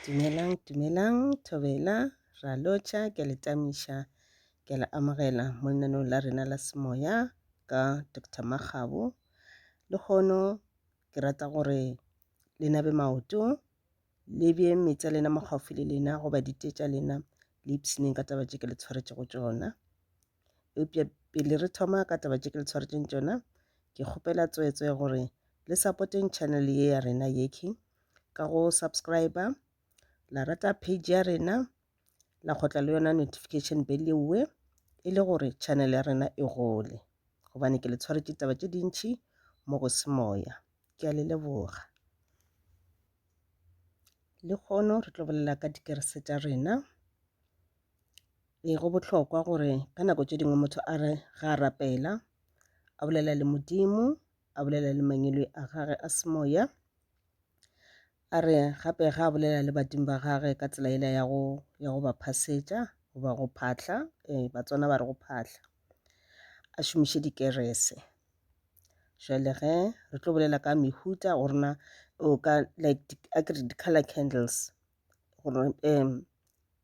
Dumelang, dumelang, thobela, ra lotšha, ke le tamiša, ke le amogela mo lenanong la rena la semoya ka Dr. Makgabo. Le kgono ke rata gore le nabe maoto, le bje metsi a lena mo gaufi le lena goba dite tša lena, le ipshineng ka taba tše ke le tshwaretšego tšona. Eupša pele re thoma ka taba tše ke le tshwaretšeng tšona, ke kgopela tsweetswe gore le sapoteng channel ye ya rena yeki ka go subscribe la rata page ya rena la kgotla le yona notification bell yewe e le gore channel ya rena e gole gobane ke le tshwaretše taba tše dintšhi mo go se moya ke a le leboga le kgono re tlo bolela ka dikerese tša rena Ee, go bohlokwa gore ka nako tše dingwe motho a re ga a rapela, a bolela le Modimo, a bolela le mangwelwe a gage a semoya, a re gape ga a bolela le badimo ba gage ka tsela ela ya go ya go ba phasetša goba go phahla um batswana ba re go phahla a šomiše dikerese jale ge re tlo bolela ka mehuta go rena o ka like a ke re di-color candles gore um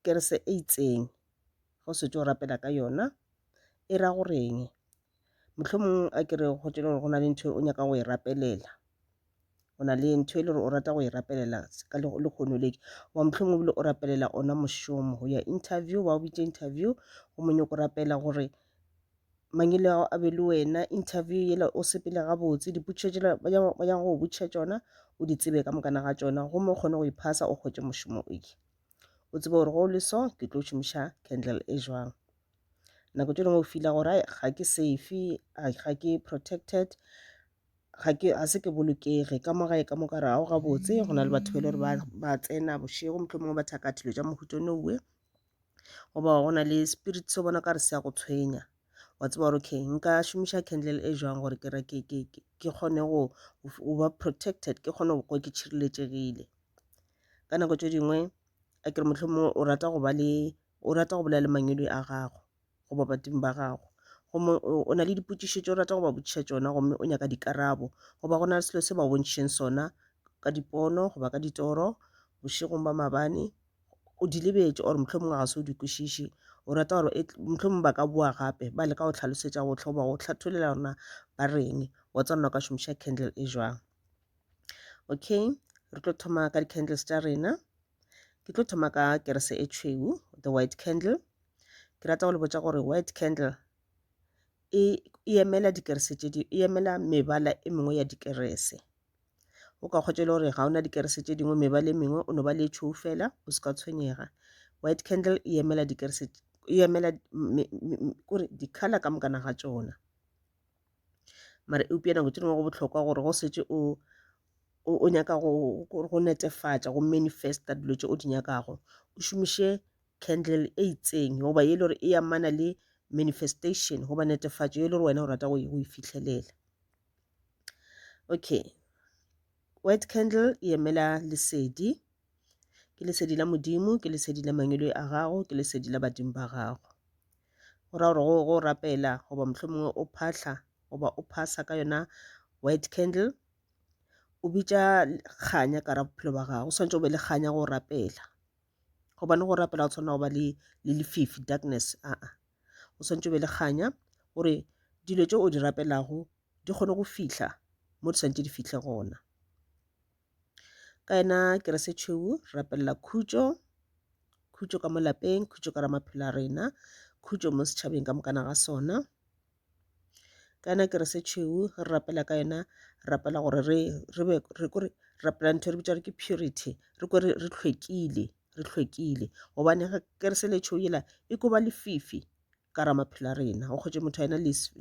kerese e itseng go se tšo rapela ka yona e ra goreng mohlomong a ke re go tšele gore go na le ntho o nyaka go e rapelela o na le ntho e le gore o rata go e rapelela ka lekgono le wa mohlomong bile o rapelela ona mošomo go ya interview ba o bitša interview go monyoko rapela gore mangilego a be le wena interview yela o sepele gabotse dipotšišo tšela ba nyaka go botšiša tšona o di tsebe ka mokana ga tšona gomme o kgone go iphasa o kgwetše mošomo o ye o tsebe gore go le so ke tlo šomiša candle e jwang nako tše dingwe o fila gore ga ke safe ga ke protected ga ke a se ke bolokege ka mo gae ka mo kare ga o gabotse go na le batho ba e le gore ba tsena bošego mohlomongwe ba thaka dilo tša mohuto no uwe goba go na le spirit se bona ka re se ya go tshwenya wa tseba gore okay nka šomiša candle e jwang gore ke ke ke ke ke kgone go go ba protected ke kgone go kwa ke tšhireletšegile ka nako tše dingwe a ke re mohlomongwe o rata go ba le o rata go bolela le mangwedi a gago goba badimo ba gago gomme o na le dipotšišo tše o rata go ba botšiša tšona gomme o nyaka dikarabo goba go na le selo se ba bontšheng sona ka dipono goba ka ditoro bošegong ba mabane o di lebetše ore motlho mongwe ga se o di kwešiše o rata gore e motlho mongwe ba ka boa gape ba leka go tlhalosetša go tlhoba go tlhatholela rona ba reng wa tsa rona ka šomiša candle e jwang okay re tlo thoma ka di-candles tša rena Ke tlo thoma ka kerese e tšhweu, the white candle. Ke rata go le botša gore white candle e e emela dikerese tše di e emela mebala e mengwe ya dikerese. O ka kgwetša e le gore ga o na dikerese tše dingwe mebala e mengwe o no ba le e tšhweu fela o se ka tshwenyega. White candle e emela dikerese e emela me- me- me- kore di-colour ka mokana ga tšona. Mara eupša nako tše dingwe go bohlokwa gore go setse o o, o nyaka go, go, go netefatša go manifesta dilo tše o di nyakago o šomiše candle e itseng goba e le gore e amana le manifestation goba netefatšo e le gore wena o rata go e fitlhelela okay white candle e emela lesedi ke lesedi la modimo ke lesedi la mangwele a gago ke lesedi la badimo ba gago go ra gore go, go rapela goba mohlomongwe o phahla goba o phasa ka yona white candle o bitša kganya ka ra bophelo ba gago o swanetše o be le kganya go rapela gobane go rapela o tshwanela go ba le le lefifi darkness a a o swanetše o be le kganya gore dilo tše o di rapelago di kgone go fihla mo di swanetše di fihle gona ka yena kerese tšhweu rapelela khutšo khutšo ka mo lapeng khutšo ka ra maphelo a rena khutšo mo setšhabeng ka mokana ga sona ka yona kerese e tšhweu re rapela ka yona re rapela gore re re be re kore rapela ntho e re bitsa re ke purity re kore re hlwekile re hlwekile gobane kerese le tšhweu yela e koba lefifi ka ra maphelo a rena o kgotše motho a yena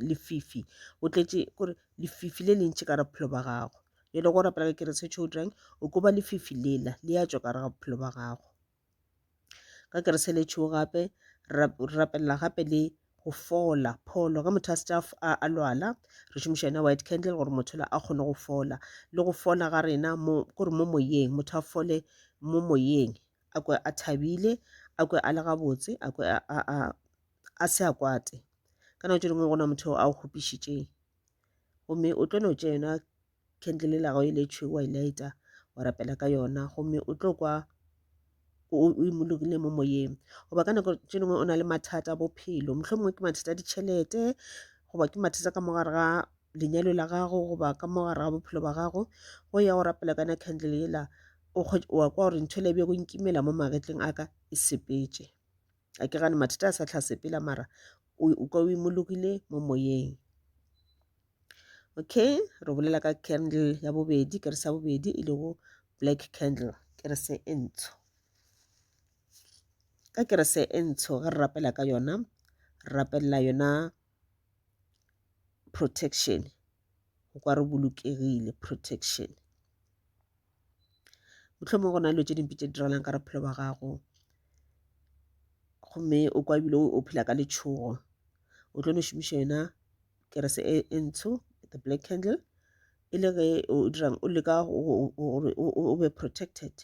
lefifi o tletše kore lefifi le lentši ka ra bophelo ba gago e le go rapela ka kerese tšhweu dirang o koba lefifi lela le ya tšwa ka re ga bophelo ba gago ka ke re seletšhego gape re rapelela gape le go fola pholo ge motho a se a a lwala re šomiša yona white candle gore motho la a kgone go fola le go fola ga rena mo kore mo moyeng motho a fole mo moyeng a kwe a thabile a kwe a le gabotse a kwe a se a kwate ka nako tše dingwe gona motho a o kgopišitšeng gomme o tlo no tša yona khendele la gago e le tšhweu wa e laeta wa rapela ka yona gomme o tlo kwa o imologile mo moyeng goba ka nako tše dingwe o na le mathata a bophelo motlho mongwe ke mathata a ditšhelete goba ke mathata ka mogare ga lenyalo la gago goba ka mogare ga bophelo ba gago go ya go rapela kana candle ela o wa kwa gore ntho le bjego nkimela mo magetleng a ka e sepetše a ke gane mathata a sa tlhasepela mara o ka o imologile mo moyeng okay re bolela ka candle ya bobedi ke re sa bobedi e lego black candle ke re se e ntsho ka ke re se e ntsho ge re rapela ka yona re rapelela yona protection go kwa re bolokegile protection mohlomong go na le dilo tše dimpe tše diralang ka bophelo ba gago gomme o kwa ebile o phela ka letšhogo o tlo no šomiša yona kerese e, e ntsho the black candle e le ge o dirang o leka gore o be protected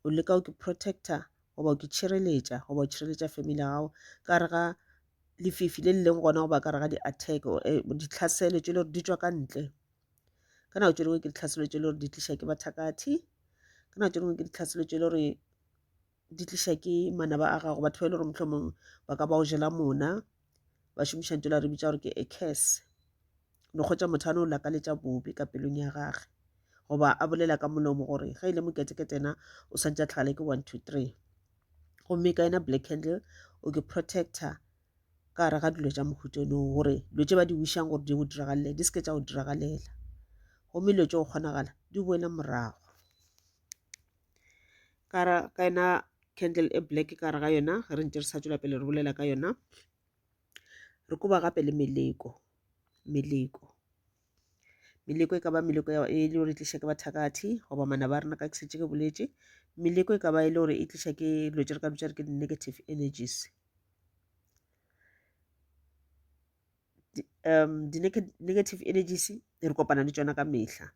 o leka o ke protector goba o ke tšhireletša goba o tšhireletša family ya gago ka re ga lefifi le le leng gona goba ka re ga di-attack eh, ditlhaselo tše le gore di tswa ka ntle ka nako tše dingwe ke ditlhaselo tše le gore di tliša ke bathakathe ka nako tše dingwe ke ditlhaselo tše le gore di tliša ke manaba a gago batho ba e le gore mohlomong ba ka ba o jela mona ba šomiša ntho la re bitša gore ke a curse no kgotsa motho a no lakaletša bobe ka pelong ya gage goba a bolela ka molomo gore ge e le moketeketena o swantse a tlhagale ke one two three gomme ka yena black candle o ke protector ka gare ga dilo tša mohuto no gore dilo tse ba di wišang gore di go diragalele di seke tša go diragalela gomme dilo tse go kgonagala di boele morago ka ra ka yona candle e black ka re ga yona ge re ntse re sa tswela pele re bolela ka yona re koba gape le meleko meleko meleko e ka ba meleko e le gore e tliša ke bathakathi goba mana ba rena ka ke setse ke boletše meleko e ka ba e le gore e tliša ke dilo tse re ka bitsa re ke di-negative energies um di-negative energies re kopana le tsona ka mehla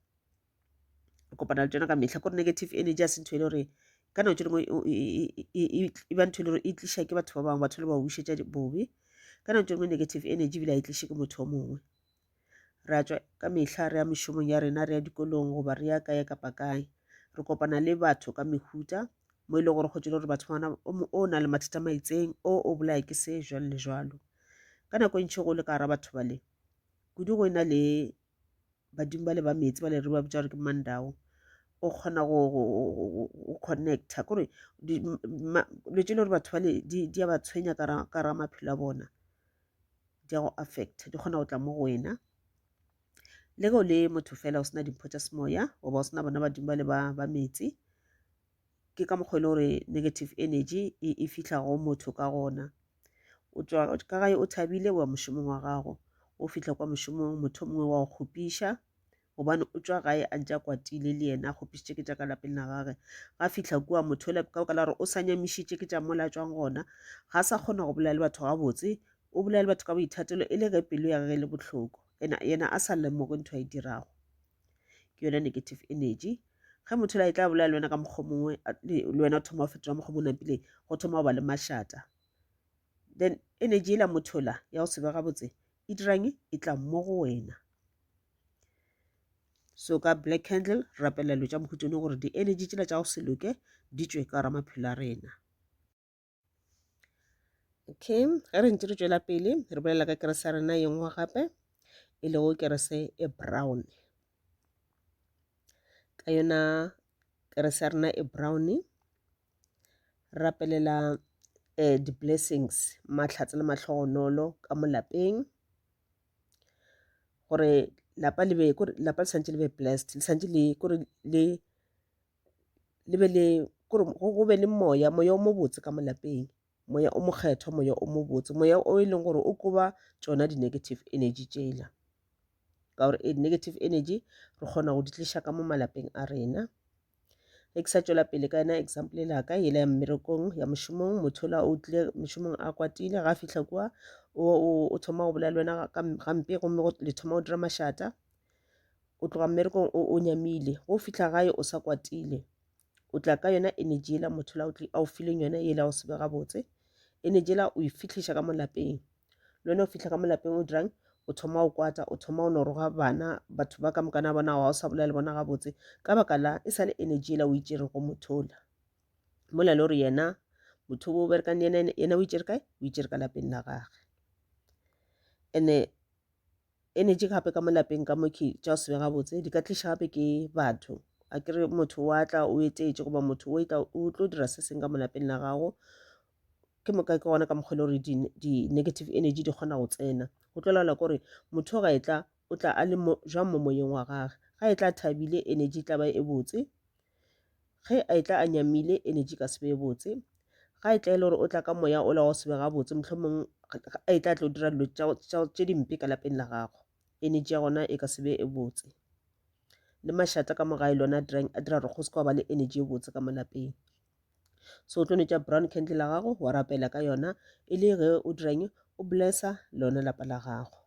re kopana le tsona ka mehla kore negative energy a se ntho e le gore ka nako tse dingwe e ba ntho e le gore e tliša ke batho ba bangwe batho le ba bušetša bobe ka nako tse dingwe negative energy ebile a e tliše ke motho o mongwe re a tswa ka mehla re ya mešomong ya rena re ya dikolong goba re ya kae kapa kae re kopana le batho ka mehuta mo e leng gore go tsele gore batho bana o na le mathata maitseng o o bolaya ke se jalo le jalo ka nako e ntšhi go le ka gara batho bale kudu go e na le badimo ba le ba meetse ba le re ba bitsa gore ke mandao o kgona go connecta kore dilo tse le gore batho bale di a ba tshwenya kara maphelo a bona di a go affecta di kgona go tla mo go wena le ge o le motho fela o sena dimpho tša semoya goba o sena bona badimo ba le ba meetse ke ka mokgwa e le gore negative energy e, e fihla go motho ka gona o tswa ka gae o thabile wa mošomong wa gago o fihla kwa mošomong motho mongwe wa go kgopiša gobane o tswa gae a ntse a kwatile le yena a kgopišitše ke tša ka lapeng la gage ga fihla kua motho le ka baka la gore o sa nyamišitše ke tša mola tswang gona ga sa kgona go bolela le batho gabotse o bolela le batho ka boithatelo e le ge pelo ya gage e le bohloko yena a sa lemoge ntho a e dirago ke yone negative energy ge motho la e tla bolela le wena ka mokgwa mongwe le wena o thoma go fetola mokgwa mo napileng go thoma go ba le mašata then energy e la motho la ya go sebega botse e dirang e tla mo go wena so ka black candle rapelelo tša mohutone gore di-energy tsela tša go se loke di tswe ka ramaphelo a rena okay ge re ntse re tšwela pele re bolela ka kerese ya rena yengwe gape e lego kerese e brown ka yona kerese ya rena e brown rapelela eh, di-blessings mahlatse le mahlogonolo ka mo lapeng gore lapa le be lapa le santse le be blessed le santse le kore le le be le kore go be le moya moya o mobotse ka molapeng moya o mokgethwa moya o mobotse moya o e leng gore o koba tsona di-negative energy tsela ka gore e negative energy re kgona go di tliša ka mo malapeng a rena ge ke sa tšwela pele ka yena example la ka yela ya mmerekong ya mošomong motho la o tlile mošomong a kwatile ga a fitlha kua o thoma go bolela le wena gampe gomme le thoma go dira mašata o tloga mmerekong o o nyamile go fihla gae o sa kwatile o tla ka yona energy ela motho la a o fileng yona ela o sebe gabotse energy ela o e fitlhiša ka molapeng le wena o fihla ka molapeng o dirang o thoma o kwata o thoma o noroga bana batho ba ka mokana bona ga o sa bolela le bona gabotse ka baka la e sa le energy ela o itšere go mothola mola le gore yena motho o berekang le yena yena o itšere kae o itšere ka lapeng la gage ene Energy gape ka mo lapeng ka mo ke tša go se be gabotse di ka tliša gape ke batho a ke re motho wa tla o etetše goba motho o etla o tlo dira se seng ka mo lapeng la gago ke moka ke gona ka mokgwa le gore di-negative di energy di kgona go tsena go tlo laola kore motho ga etla o tla a le jwang mo moyeng wa gage ga etla thabile energy tla ba e botse Ge a etla a nyamile, energy e ka se be e botse. Ga a etla e le gore o tla ka moya ola wa go se be gabotse, mohlomong a etla a tlo dira dilo tše dimpe ka lapeng la gago, energy ya gona e ka se be e botse. Le mašata ka mo gae le one a dirang, a dira gore go se ka ba le energy e botse ka mo lapeng. So o tlo no tšea brown candle ya gago wa rapela ka yona e le ge o dirang, o bless-a lona lapa la gago.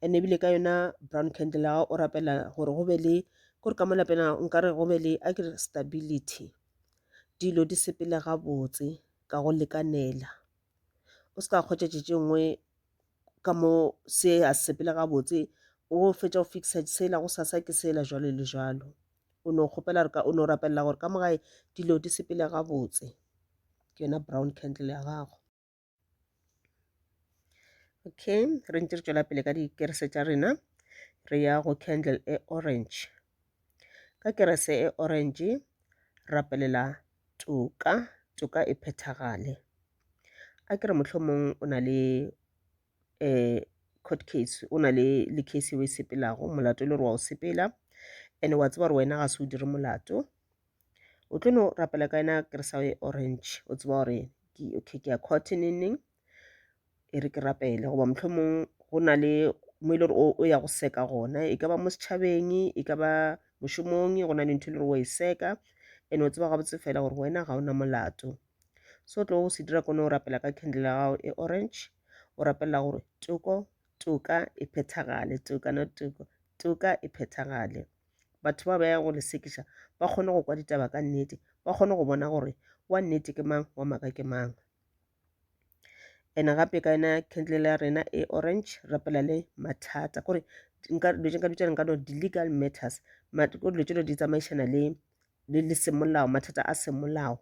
and ebile ka yona brown candle ga o rapela gore go be le kore ka mo lapeng a nkare go be le a kere stability dilo di sepele gabotse ka go lekanela o se ka kgwetša tše tše nngwe ka mo se a sepele gabotse o fetša go fixa sela go sasa ke sela jalo le jalo o no kgopela gore o no rapelela gore ka mo gae dilo di sepele gabotse ke yona brown candle ya gago okay re ntse re tšwela pele ka dikerese tša rena re ya go candle e orange ka kerese e orange rapelela toka toka e phethagale a ke re mohlomong o na le um court case o na le le case o e sepelago molato e le gore wa o sepela and wa tseba gore wena ga se o dire molato o tlo no rapela ka yona ke re sa ye orange o tseba gore ke okay ke ya court neng neng e re ke rapele goba mohlomong go na le mo e le gore o ya go seka gona e ka ba mo setšhabeng e ka ba mošomong go na le ntho e le gore wa e seka and o tseba gabotse fela gore wena ga o na molato so o tlo go se dira kone o rapela ka candle ya gago e orange o rapelela gore toko toka e phethagale toka no toko toka e phethagale Batho ba ba ya go le sekiša ba kgone go kwa ditaba ka nnete, ba kgone go bona gore wa nnete ke mang, wa maka ke mang. Ene gape ka yena candle ya rena e orange rapela le mathata kore nka dilo tse nka bitšang nka no di-legal matters ko dilo tse di tsamaišana le le le semolao mathata a semolao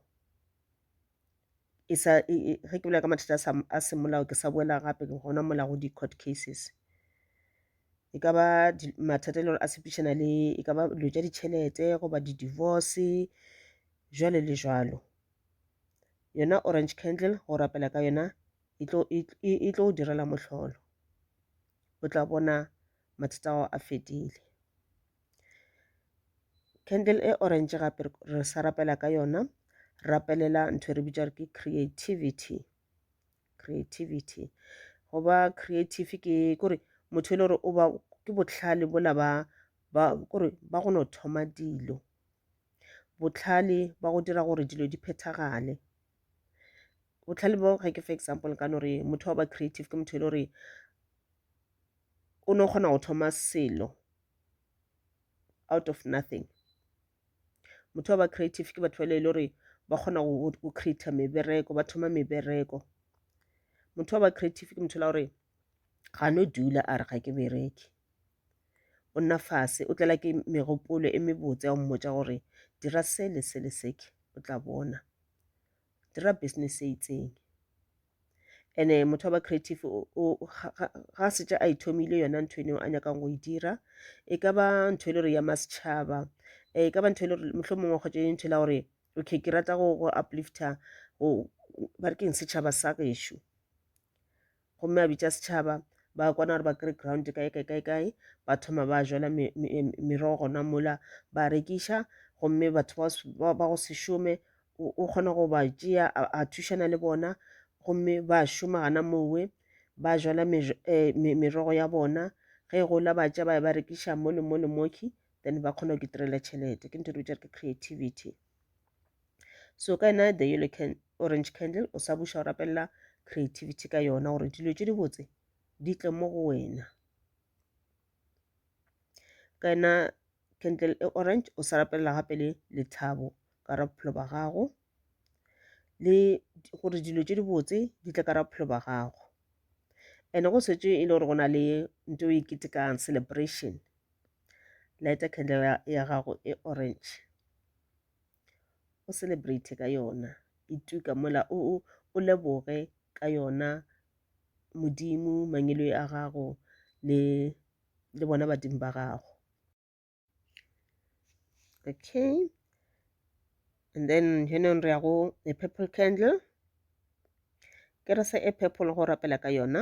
e sa ge ke bolela ka mathata a semolao ke sa boela gape gona mola go di-court cases. e ka ba mathata e le gore a sepedišana le e ka ba dilo tša ditšhelete goba di-divorce jwale le jwalo yona orange candle go rapela ka yona e tlo e, e, e tlo direla mohlolo o tla bona mathata ao a fedile candle e orange gape re sa rapela ka yona rapelela ntho e re bitša re ke creativity creativity go ba creative ke kore motho e le gore o ba ke botlhale bola ba ba kore ba go no thoma dilo botlhale ba go dira gore dilo di phethagale botlhale bo ga ke for example ka no re motho wa ba creative ke motho e le gore o no kgona go thoma selo out of nothing motho wa ba creative ke batho ba ile gore ba kgona go creator mebereko ba thoma mebereko motho wa ba creative ke motho la gore ga no dula a re ga ke bereke o nna fase o tlela ke megopolo e mebotse ya go mmotsa gore dira se le se le seke o tla bona dira business e itseng ene motho wa ba creative o, o, ga, ga, ga a setša a ithomile yona ntho eneo a nyakang go e dira e ka ba ntho e le gore ya masetšhaba e ka ba ntho e le gore mohlho mongwe kgotsa e ntho e la gore okay ke rata go, go uplifta go ba re keng setšhaba sa gešo gomme a bitša setšhaba ba kwana gore ba kry ground kae kae kae kae ba thoma ba jala me- me- merogo gona mola ba rekiša gomme batho ba s- ba ba go se šome o kgona go ba tšea a thušana le bona gomme ba šoma gana mowe ba jala eh, merogo ya bona ge e gola ba tša ba ba rekiša mo le mo le moki then ba kgona go itirela tšhelete ke ntho re ke creativity so ka ena the yellow can, orange candle o sa buša o rapelela creativity ka yona gore dilo tše di botse di tle mo go wena ka ena candle e orange o sa rapelela gape le lethabo ka ra bophelo ba gago le gore dilo tše dibotse di tle ka ra bophelo ba gago and go setse e le gore go na le nto e ketekang celebration lighter candle ya gago e orange o celebrate ka yona e tuka mola o o leboge ka yona modimo mangelo a gago le le bona badimo ba gago okay and then henong re ya go a purple candle ke re se e purple go rapela ka yona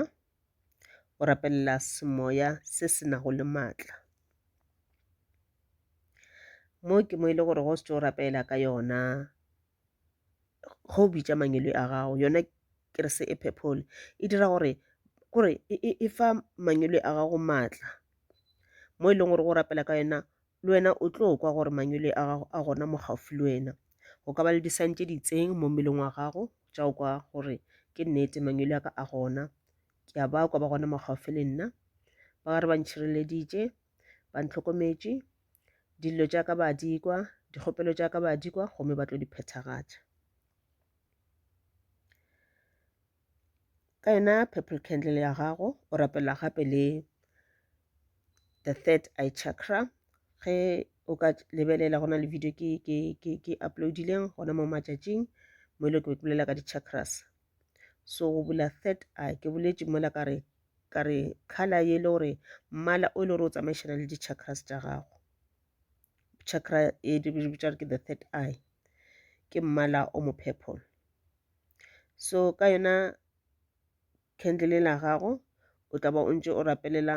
o rapelela semoya se se nago le maatla mo ke mo e le gore go se tso rapela ka yona ge o bitša mangwele a gago yona kerese e purple e dira gore kore e fa mangwele a gago maatla mo e leng gore go rapela ka yona le wena o tlo kwa gore mangwele a gago a gona mo gaufi le wena go ka ba le disang tse di itseng mo mmeleng wa gago tša o kwa gore ke nnete mangwele a ka a gona ke a ba kwa ba gona mo gaufi le nna ba re ba ntšhireleditše ba ntlhokometše Dillo tša ka ba a di kwa, dikgopelo tša ka ba a di kwa, gomme ba tlo di phethagatša. Ka yona purple candle ya gago, o rapela gape le the third eye chakra ge o ka lebelela go na le video ke, ke, ke, ke uploadileng gona mo matšatšing mo e le ke bolela ka di-chakras so go bula third eye ke boletše mola ka re ka re color ye le gore mmala o e le gore o tsamaišana le di-chakras tša gago chakra e di bitša ke the third eye ke mmala o mo purple so ka yona candle la gago o tla ba o ntse o rapelela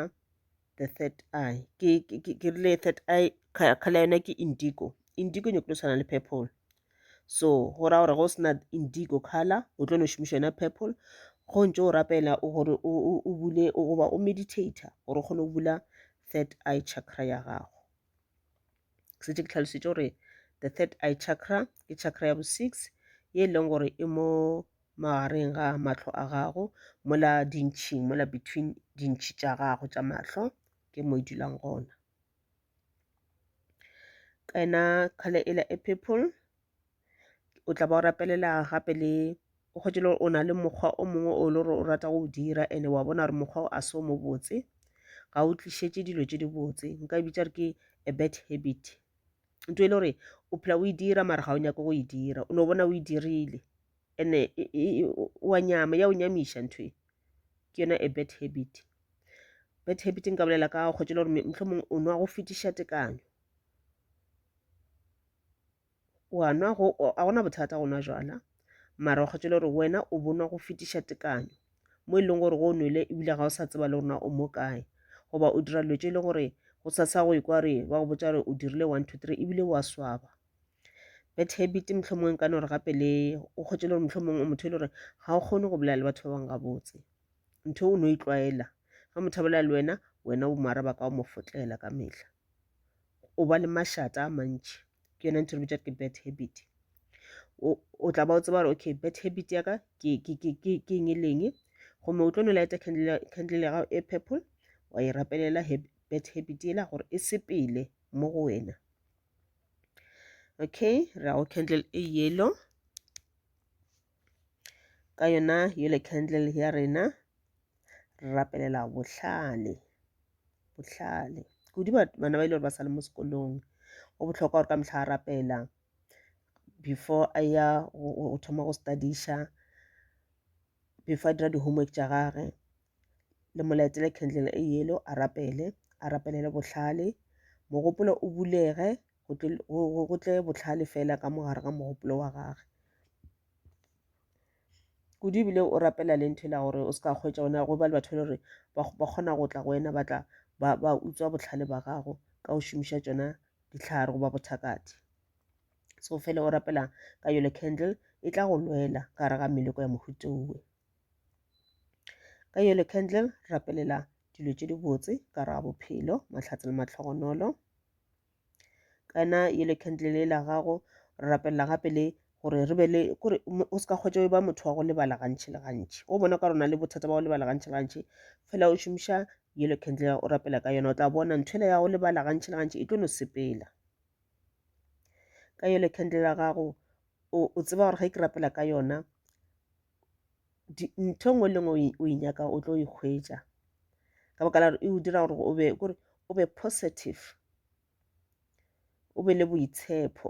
the third eye ke ke rile third eye khala yona ke indigo indigo nyoko tshwana le purple so go ra gore go sena indigo color o tlo no šomiša yona purple go ntse o rapela gore o bule goba o meditator gore o kgone go bula third eye chakra ya gago ke setse ke tlhalositše gore the third eye chakra ke chakra ya bo six ye e leng gore e mo magareng ga mahlo a gago mola dintšhing mola between dintšhi tša gago tša mahlo ke mo e dulang gona ka ena kgale e la e purple o tla ba o rapelela gape le o kgwetše le gore o na le mokgwa o mongwe o le gore o rata go dira ene wa bona gore mokgwa o a se o mo botse ga o tlišetše dilo tše di botse nka e bitša re ke a bad habit nto e le gore o phela o e dira mara ga o nyake go e dira o no bona o e dirile ene wa nyama ya o nyamiša ntho e ke yona a bad habit bad habit nka bolela ka kgwetše le gore mohlomong o nwa go fetiša tekanyo wa nwa go a gona bothata go nwa jwala mara o kgethile gore wena o bonwa go fetiša tekanyo mo e leng gore go o nwele ebile ga o sa tseba le gorena o mo kae goba o dira dilo tse e leng gore go sa sa go ikwa re ba go botsa gore o dirile one two three ebile wa swaba bad habit motlho mongwe ka nore gape le o kgwetse le gore motlho mongwe o motho e le gore ga o kgone go bolela le batho ba bangwe gabotse ntho o ne o itlwaela ga motho a bolela le wena wena o mo araba ka o mo fotlela ka metlha o ba le mašata a mantši ke yona ntho re bitša ke bad habit o tla ba o tseba gore okay bad habit ya ka ke eng e leng gomme o tlo no lighta candle ya gago e purple wa e rapelela bad habit ela gore e sepele mo go wena okay ra go candle e yellow ka yona yole candle ya rena re rapelela bohlale bohlale kudu bana ba ile gore ba sa le mo sekolong go bohlokwa gore ka mehla a rapela before a ya go thoma go studiša before a dira di-homework tša gage le molaetsele candle e yelo a rapele a rapelele bohlale mogopolo o bulege go tle bohlale fela ka mo gare ga mogopolo wa gage kudu ebile o rapela le ntho ela gore o se ka kgwetsa ona go ba le batho e le gore ba kgona go tla go wena ba tla ba ba utswa botlhale ba gago ka go šomiša tsona ditlhare goba bothakati so fela o rapela ka yolo candle e tla go lwela ka gare ga meleko ya mohuto owe ka yolo candle rapelela dilo tše dibotse ka gare ga bophelo mahlatse le matlhogonolo kana ye le candle le la gago re rapelela gape le gore re be le kore o se ka kgwetsa o ba motho wa go lebala gantši le gantši o bona ka rona le bothata ba go lebala gantši le gantši fela o šomiša yellow candle o rapela ka yona o tla bona ntho ya go lebala gantši le gantši e tlo no sepela ka yellow candle ya gago o tseba gore ge ke rapela ka yona ntho e nngwe le nngwe o e nyaka o tlo ikgwetša ka baka la gore e o dira gore o be kore o be positive o be le boitshepo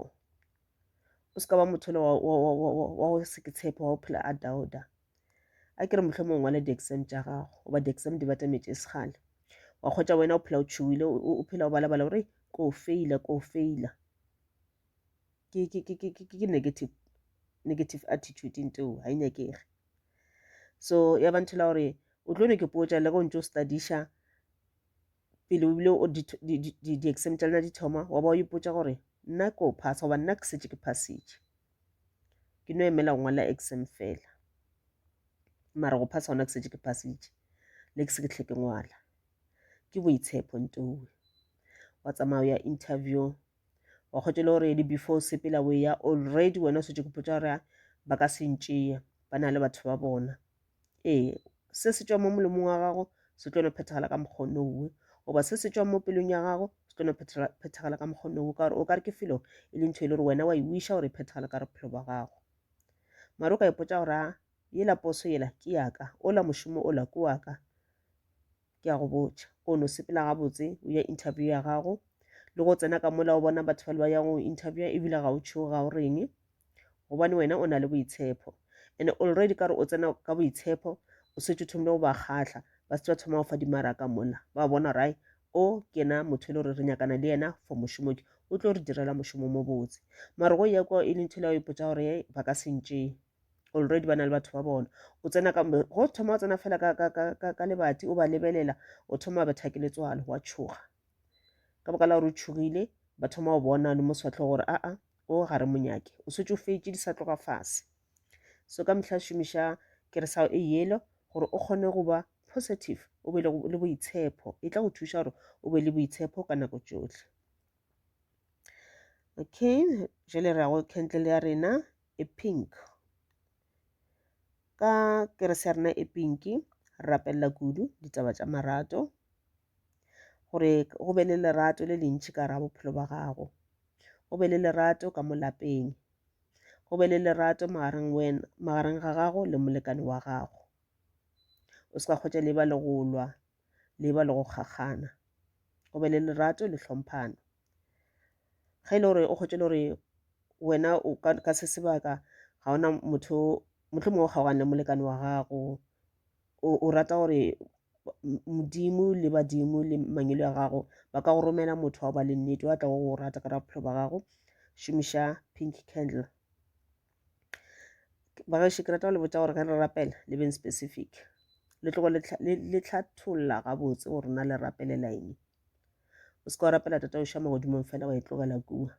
o se ka ba motho le wa go se ke tshepo wa go phela a dauda a kere motlho mongwe wa le di-exam tša gago goba di-exam di batametse e segale wa kgwetsa wena o phela o tšhogile o phela o balabala gore ko o feila ko o feila ke, ke, ke, ke, ke negative, negative attitude into ga e nyakege so ya ba nthela gore o tlo ne ke potsa le go ntse o studiša pele o bile di-exam tša lena di thoma wa ba o ipotsa gore nna ko phasa goba nna ke setse ke phasitše ke no emela go ngwala exam fela mara go phasa gona ke setse ke phasitše le ke se ke tlhe ke ngwala ke boitshepo ntowe wa tsamaya ya interview wa kgotša le gore di before o sepela o eya already wena o setse ke potsa gore ba ka se ntšea ba na le batho ba bona ee se se tšwa mo molomong wa gago se tlo no phethagala ka mokgono owe goba se se tšwa mo pelong ya gago se tlo no phethagala ka mokgono owe ka gore o ka re ke felo e le ntho e le gore wena wa e wiša gore e phethagale ka re bophelo ba gago mare o ka ipotsa gore yela poso yela ke yaka ola mošomo ola ke waka ke a go botša o no sepela gabotse o ya interview ya gago le go tsena ka mola o bona batho ba le ba yang go interview ebile ga o tšhogo ga o reng gobane wena o na le boitshepo and already ka re o tsena ka boitshepo o setse o thomile go ba kgatlha ba setse ba thoma go fa dimaraka mola ba bona rai o ke na motho e le gore re nyakana le yena for mošomo ke o tlo re direla mošomo mo botse mara go ya kwa e le ntho le ya o ipotsa gore ba ka sentšeng already ba na le batho ba bona o tsena ka go thoma o tsena fela ka, ka, ka, ka, ka lebati o ba lebelela o thoma wa betha ke letswalo wa tšhoga ka baka la gore o tšhogile ba thoma go bona le mo swatlho gore aa o ga re monyake o swetse o fetše di sa tloga fase so ka mehla šomiša keresago e yelo gore o kgone go ba positive o be le boitshepo e tla go thuša gore o be le boitshepo ka nako tšohle okay jale re ya go kentle le ya rena e pink. Ka kerese ya rena e pink, re rapelela kudu ditaba tša marato, gore go be le lerato le lentši ka raga bophelo ba gago, go be le lerato ka mo lapeng, go be le lerato magareng wena magareng ga gago le molekane wa gago. O se ka kgotša le ba le go lwa, le ba le go kgakgana, go be le lerato le hlomphana. ge e le gore o kgotše le gore wena o ka ka se sebaka ga ona motho mohlomongwe o kgaogane molekane wa gago o rata gore modimo le badimo le mangwele a gago ba ka go romela motho wa ba le nnete wa tla go go rata ka ra bophelo ba gago šomiša pink candle bagaešo ke rata go le botsa gore ge re rapela le beng specific le tlogo le tlhatholla gabotse gore na le rapelela eng o se ka wa rapela tata oša magodimong fela wa e tlogela kua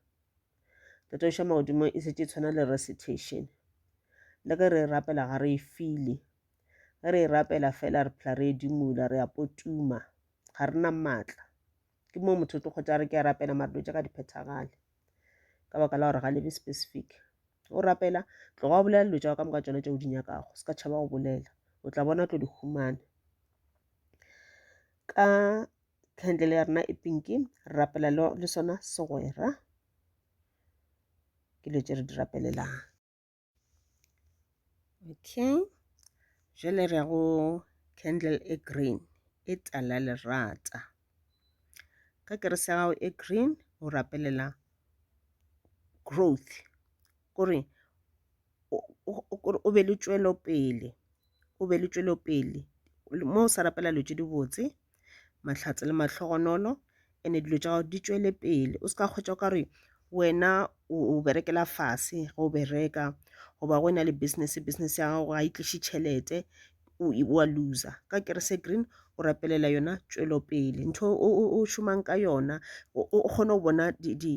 tata oša magodimong e setse e tshwana le recitation le ge re e rapela ga re e file ge re e rapela fela re phela re e dimula re a potuma ga re na maatla ke moo motho o tlo kgotsa re ke a rapela mare dilo tša ka di phethagale ka baka la gore ga lebe specific o rapela tloga o bolela dilo tša ka moka tsona tše o di nyakago se ka tšhaba go bolela o tla bona tlo di humane ka candle ya rena e pinki re rapela le sona segwera ke dilo tše re di rapelelang okay jale re ya go candle e green e tala lerata ka kerese ya gago e green o rapelela growth kore o be le tšwelopele o be le tšwelopele mo o sa rapela dilo tše dibotse mahlatse le mahlogonolo ene dilo tša gago di tšwele pele o se ka kgwetša o ka re wena o berekela fase ge o bereka goba go e na le business business ya gago ga e tliše tšhelete wa loser ka kerese green o rapelela yona tšwelopele ntho o šomang ka yona o kgone go bona di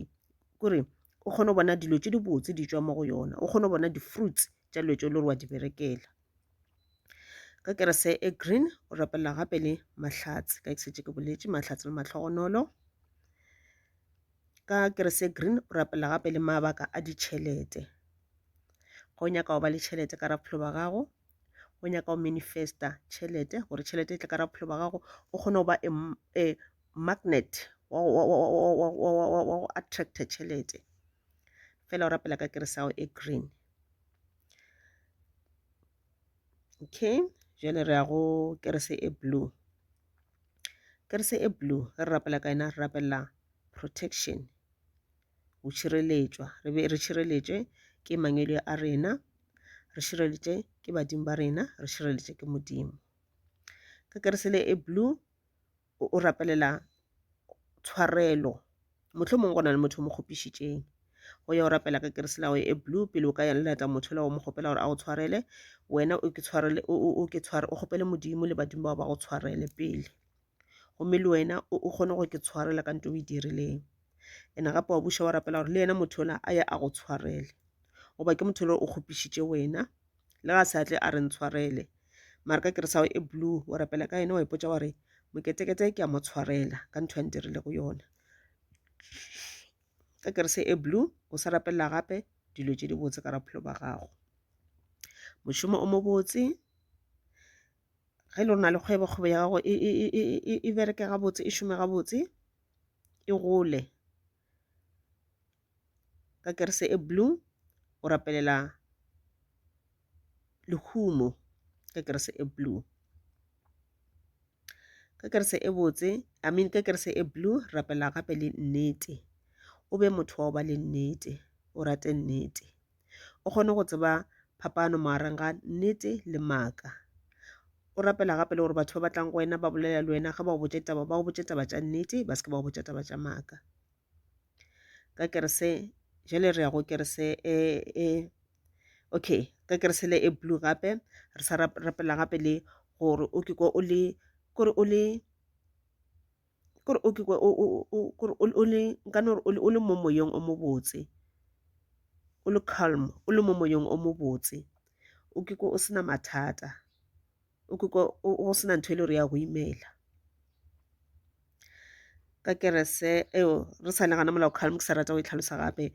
kore o kgone go bona dilo tše dibotse di tšwa mo go yona o kgone go bona di-fruits tša dilo tše le gore wa di berekela ka kerese e green o rapelela gape le mahlatse ka ke setse ke boletše mahlatse le matlhogonolo ka kerese e green o rapelela gape le mabaka a ditšhelete ga o nyaka go ba le tšhelete ka raphelo ba gago o nyaka go manifesta tšhelete gore tšhelete e tle ka raphelo ba gago o kgone go ba e, e magnet wa go attracta tšhelete fela o rapela ka keresago e green okay jale re ya go kerese e blue kerese e blue ge re rapela ka yena re rapela protection go šireletšwa re be re šireletšwe ke mangwele a rena re šireletše ke badimo ba rena re šireletše ke modimo ka keresele e blue o rapelela tshwarelo motlho mongwe go na le motho o mo kgopišitšeng go ya o rapela ka kerese lago e blue pele o ka ya lelata motho la o mo kgopela gore a go tshwarele wena o ke tshwarele o ke tshware o kgopele modimo le badimo bao ba go tshwarele pele gomme le wena o kgone go ke tshwarela ka nto o e dirileng ene gape wa buša wa rapela gore le yena motho ola a ye a go tshwarele goba ke motho le o kgopišitše wena le ga sa tle a re ntshwarele mara ka keresago e blue o rapela ka yone wa ipotsa wa re moketekete ke a mo tshwarela ka ntho a ntirile go yona ka kerese e blue o sa rapelela gape dilo tše di botse ka raphelo ba gago mošomo o mo botse ge e le rona le kgwebo kgwebo ya gago e bereke gabotse e šome gabotse e gole ka kerese e blue o rapelela lehumo ka kerese e blue ka kerese e botse i mean ka kerese e blue rapela gape le nnete o be motho wa go ba le nnete o rate nnete O kgone go tseba phapano magareng ga nnete le maaka. O rapela gape le gore batho ba batlang go wena ba bolela le wena ge ba botše taba ba botše taba tša nnete ba se ke ba botša taba tša maaka. Ka kerese jale re ya go kerese e e okay ka kerese le e blue gape re sa rapela gape le gore o ke ko o le kore o le kore o ke kore o le nka no re o le mo moyeng o mobotse o le calm o le mo moyeng o mobotse o ke ko o sena mathata o ke ko o sena ntho e le gore ya go imela ka kerese eo re sa le gana molao calm ke sa rata go e tlhalosa gape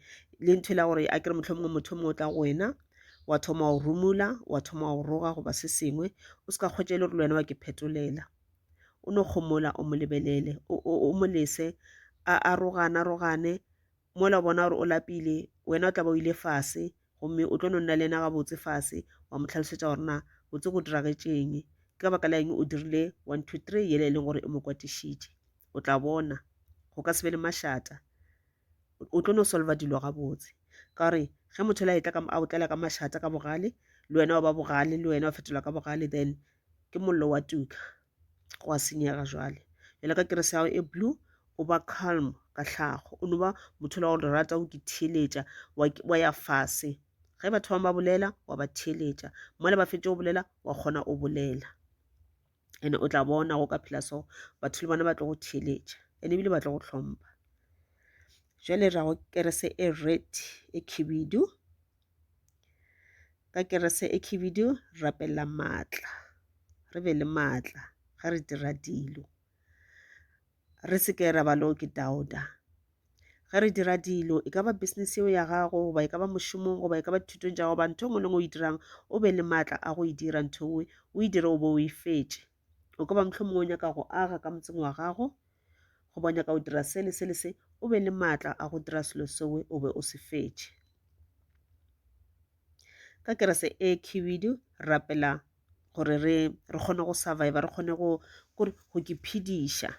le ntho e la gore a kere motlho mongwe motho mongwe o tla go wena wa thoma wa o rumula wa thoma wa o roga goba se sengwe o se ka kgwetša e le gore le wena wa ke phetolela o no kgomola o mo lebelele o mo lese a arogana rogane mola o bona gore o lapile wena o tla ba o ile fase gomme o tlo no nna le ena gabotse fase wa mo tlhalosetša gore na botse go diragetšeng ke ka baka la eng o dirile one two three yele e leng gore e mo kwatišitše o tla bona go ka se be le mašata o tlo no solva dilo gabotse ka gore ge motho la etla a otlela ka mašata ka bogale le wena wa ba bogale le wena wa fetola ka bogale then ke mollo wa tuka go a senyega jwale jale ka kerese yago e blue o ba calm ka tlhago o no ba motho la gore rata o ke theeletša wa ya fase ge batho bangwe ba bolela wa ba theeletša mola ba fetše o bolela wa kgona o bolela ene o tla bona go ka phela so batho le bona ba tlo go theeletša ene ebile ba tlo go hlompa jale ra go kerese e red e khibidu ka kerese e khibidu rapella maatla re be le maatla ga re dira dilo Re se ke ra ba lo ke dauta. Ge re dira dilo, e ka ba business yeo ya gago, goba e ka ba mošomong, goba e ka ba dithutong tša goba ntho nngwe le nngwe o e dirang, o be le maatla a go e dira ntho nngwe, o e dire o bo o e fetše. O ka ba mohlho mongwe o nyaka go aga ka motseng wa gago, goba o nyaka go dira se le se le se, o be le maatla a go dira selo sewe o be o se fetše. Ka kerese e khibidu, rapela gore re re kgone go survive re kgone go kore go ke phediša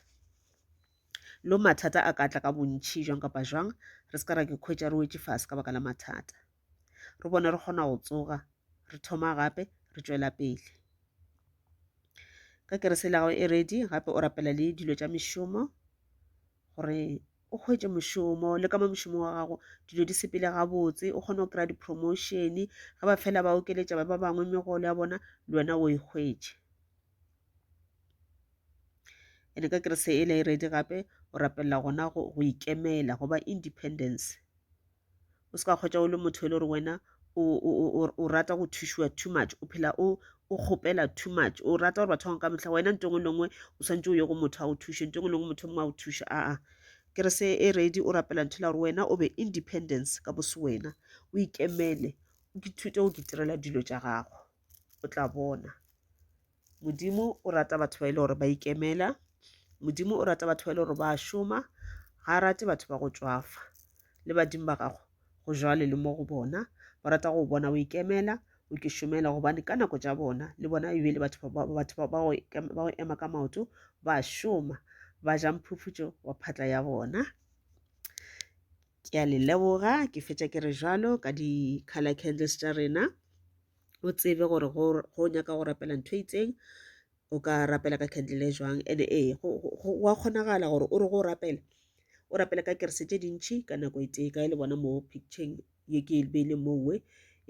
lo mathata a ka tla ka bontšhi jwang kapa jwang re se ka ra ke khwetša re wetše fase ka baka la mathata re bone re kgona go tsoga re thoma gape re tšwela pele ka kerese la gago e ready gape o rapela le dilo tša mešomo gore o hwetše mošomo le ka mo mošomong wa gago dilo di sepele gabotse o kgone go kry-a di-promotion ge ba fela ba okeletša ba ba bangwe megolo ya bona le wena o e hwetše ene ka kerese e le e redi gape o rapelela gona go ikemela go ba independence o se ka kgwetša o le motho e le gore wena o rata go thušiwa too much o phela o o kgopela too much o rata gore batho bangwe ka mehla wena nto ngwe le ngwe o swantse o ye go motho a go thuše nto ngwe le ngwe motho mongwe a go thuše aa kere se e ready o rapela ntho la gore wena o be independence ka bose wena o ikemele o ithute go ke tirela dilo tša gago o tla bona modimo o rata batho ba e le gore ba ikemela modimo o rata batho ba e le gore ba šoma ga a rate batho ba go tšwafa le badimo ba gago go jwale le mo go bona ba rata go bona o ikemela o ke šomela gobane ka nako tša bona le bona e be le batho ba go ema ka maoto ba šoma ba ja mphufutšo wa phatla ya bona ke a le leboga ke fetša ke re jalo ka di-color candles tša rena o tsebe gore go nyaka go rapela ntho e itseng o ka rapela ka candle e jwang and ee wa kgonagala gore o re go rapela o rapela ka kerese tše dintšhi ka nako e tee ka e le bona mo picturing ye ke e beile mo nngwe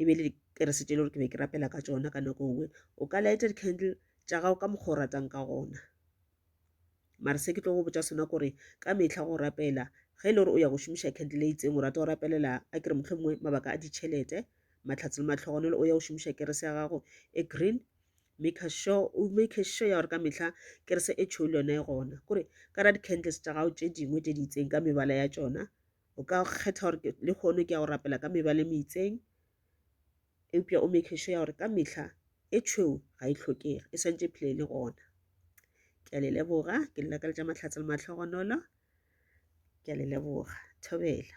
e be le kerese tše le gore ke be ke rapela ka tsona ka nako nngwe o ka lighted candle tša gago ka mokgwa o ratang ka gona mare se ke tlo go botša sona kore ka mehla go rapela ge e le gore o ya go šomiša candle e itseng o rata go rapelela a kere motlho mongwe mabaka a ditšhelete matlhatse le matlhogonolo o ya go šomiša kerese ya gago e green make sure o make sure ya gore ka mehla kerese e tšhou le yona e gona kore ka ra di-candles tša gago tše dingwe tše di itseng ka mebala ya tšona o ka kgetha gore le kgone ke ya go rapela ka mebala e meitseng eupša o make sure ya gore ka mehla e tšhweu ga e tlhokege e swantše phela e le gona ke a le leboga ke le lakaletša mahlatse le mahlogonolo ke a le leboga thobela